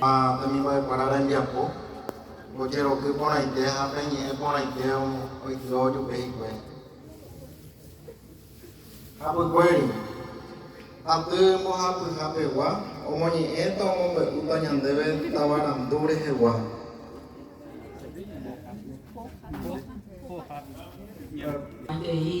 Ha umi mbo'ekuéra rembiapo ojeroky porãite ha pe ñe'ẽ porãite oityho ojupe hikuái. Hapykuéri, aty mbohapyha pegua omoñe'ẽta omombe'úta ñandéve tavarandu rehegua. Peteĩ.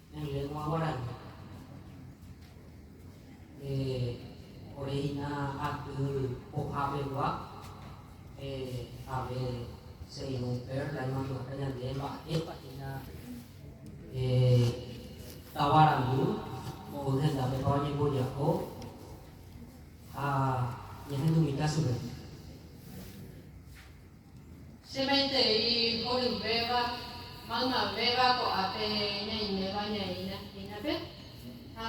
Lengua guarani. Ore hina aty pohapegua jave según Perla imandu'áta ñande mba'épa hína tavarandu mboy hendápepa oñemboja'o ha ñahendumíta chupe. Che maitei horyvéva, maymavéva ko'ápe ñaiméva ñaĩ Nahínape ha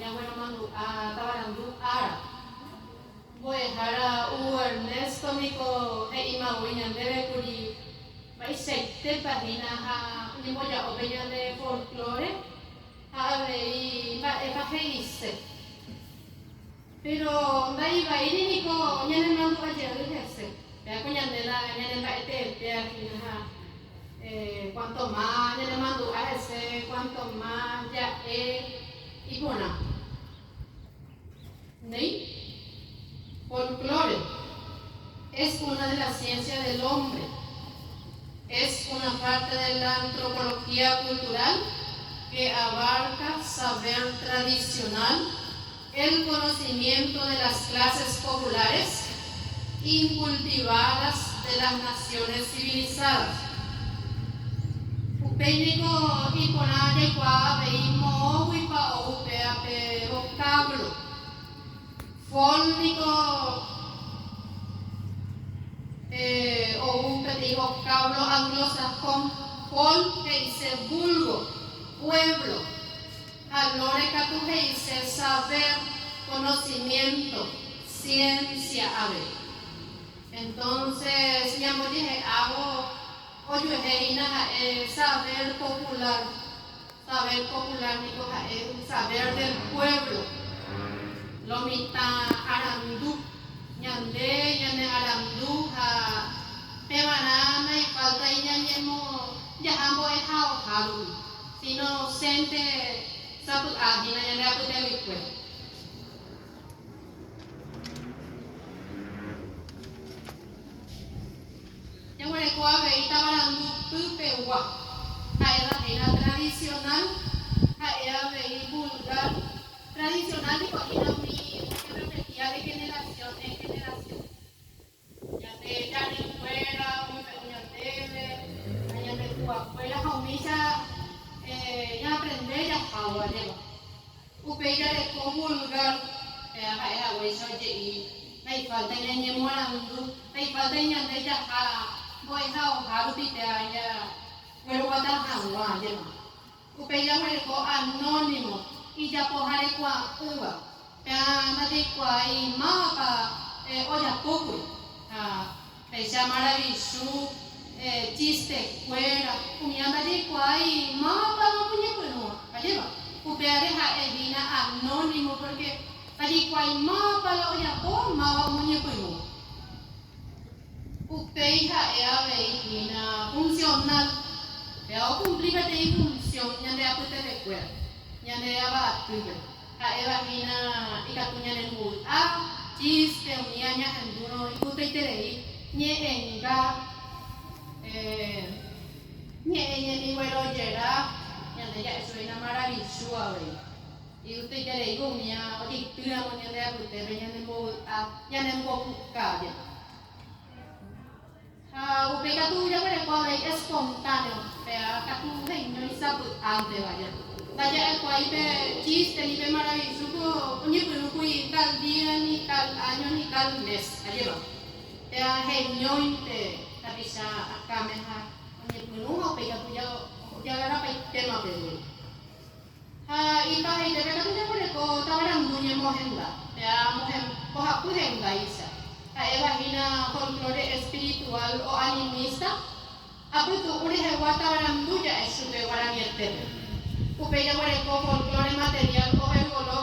ñagueromandu'a tavarandu ára. Mbo'ehára Hugo Ernesto niko he'imavoi ñandéve kuri mba'eichaitépa hína ha oñemboja'o pe ñane folklore ha avei mba'épa he'ise. Péro ndaivaíri niko ñanemandu'a jey hese. Péako ñande la ñanemba'eteete afina ha kuánto ma ñanemandu'a hese, kuánto ma ja'e iporã. Néi, folklore es una de la ciencia del hombre, es una parte de la antropología cultural que abarca saber tradicional, El conocimiento de las clases populares incultivadas de las naciones civilizadas. Upéi niko iporã jaikuaa avei moõguipa ou upéva pe vocábulo. Fol niko ou peteĩ vocábulo anglosajón, fol he'ise vulgo, pueblo. Ha Lore katu he'ise saber, conocimiento, ciencia avei. Entonces ñambojehe'ávo ojuehe hína ha'e saber popular. Saber popular niko ha'e saber del pueblo. Lo mitã arandu. Ñande ñane arandu ha pevarã naifalta iñañemo jaha mbo'ehaoha rupi. Inocente sapy'a hína ñande apytevykue. Jaguereko avei tavarandu pypegua, ha'éva hína tradicional, ha'e avei vulgar, tradicional ndipo hína umi ojerrepetía de generación en generación. Ñande ñaninkuéra oñembe'u ñandéve ha ñande tuakuéra ha umícha ñaaprende jaháva jeva. Upéi jareko vulgár, péva ha'e haguéicha oje'i ha ifálta ñañemoarandu ha ifálta iñande jaha mbo'ehaohárupi péva jagueroguata hag̃ua jeva. Upéi jaguereko anónimo ijapoharekuaa'ỹva. Péva ndajaikuaái mávapa ojapókuri ha péicha maravichu, chistekuéra, umíva ndajaikuaái mávapa oñepyrũ. Ajépa, upévare ha'e hína anónimo pórke ndajaikuaái mávapa la ojapo, máva omoñepyrũ. Upéi ha'e avei hína funcional, péva okumpli peteĩ función ñande apytevekuéra, ñande Ava atýpe, ha'éva hína ikatu ñanembovy'a, chíste, umi añahendúrõ ipytaiterei, ñe'ẽnga, ñe'ẽ ñemiguerojera, ñande ja'e sueño maravichu avei. Yvytuiterei umi ojeitýramo ñande apytépe ñanembovy'a, ñanembopukavia. Ha upéi katu jaguereko avei espontáneo, péva katu heñói sapy'ánteva ja. Ndaja'ekuaái pe chíste ni pe maravisu ko oñepyrũkuri tal día ni tal áño ni tal mes, ajépa. Péva heñói pe tapicha akãme ha oñepyrũ ha upéi katu jagarrapaitéma pe guru. Ha ipahaite pe katu ñamboreko tavarandu ñemohenda, péa amohem mbohapy hendáicha, ha'éva hína folklore espiritual o animista, apytu'ũ rehegua tavarandu ja'e chupe guaranietépegui. Upéi jaguereko folklore material o ergológico.